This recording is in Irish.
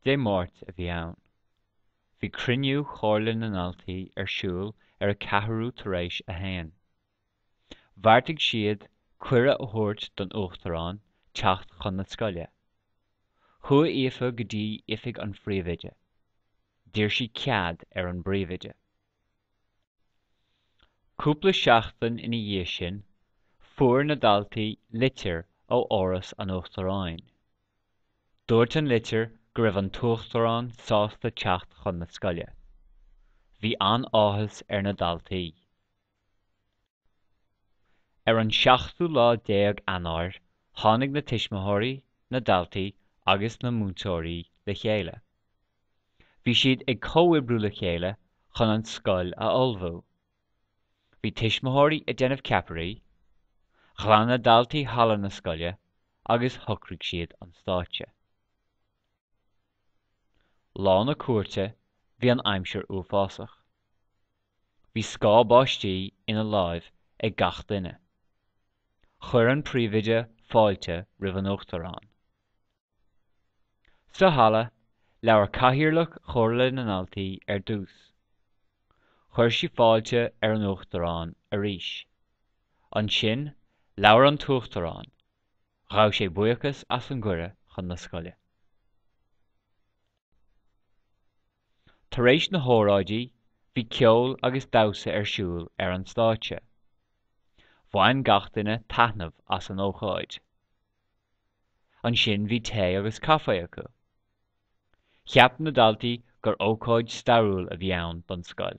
Dé Máirt a bhí ann. Bhí cruinniú Chomhairle na nDaltaí ar siúl ar a ceathrú tar éis a haon. Bheartaigh siad cuireadh a thabhairt don Uachtarán teacht chun na scoile. Chuaigh Aoife go dtí oifig an phríomhoide. D'iarr sí cead ar an bpríomhoide. Cúpla seachtain ina dhiaidh sin, fuair na daltaí litir ó Áras an Uachtaráin. Dúirt an litir go raibh an tUachtarán sásta teacht chun na scoile. Bhí an-áthas ar na daltaí. Ar an seachtú lá déag Eanáir tháinig na tuismitheoirí, na daltaí agus na múinteoirí le chéile. Bhí siad ag comhoibriú le chéile chun an scoil a ullmhú. Bhí tuismitheoirí ag déanamh ceapairí, ghlan na daltaí halla na scoile agus shocraigh siad an stáitse. Lá na cuairte bhí an aimsir uafásach. Bhí scáth báistí ina láimh ag gach duine. Chuir an Príomhoide fáilte roimh an Uachtarán. Sa halla, labhair Cathaoirleach Chomhairle na nDaltaí ar dtús. Chuir sí fáilte ar an Uachtarán arís. Ansin, labhair an tUachtarán. Ghabh sé buíochas as an gcuireadh chun na scoile. Tar éis na hóráidí, bhí ceol agus damhsa ar siúl ar an stáitse. Bhain gach duine taitneamh as an ócáid. Ansin bhí tae agus caifé acu. Cheap na daltaí gur ócáid stairiúil a bhí ann don scoil.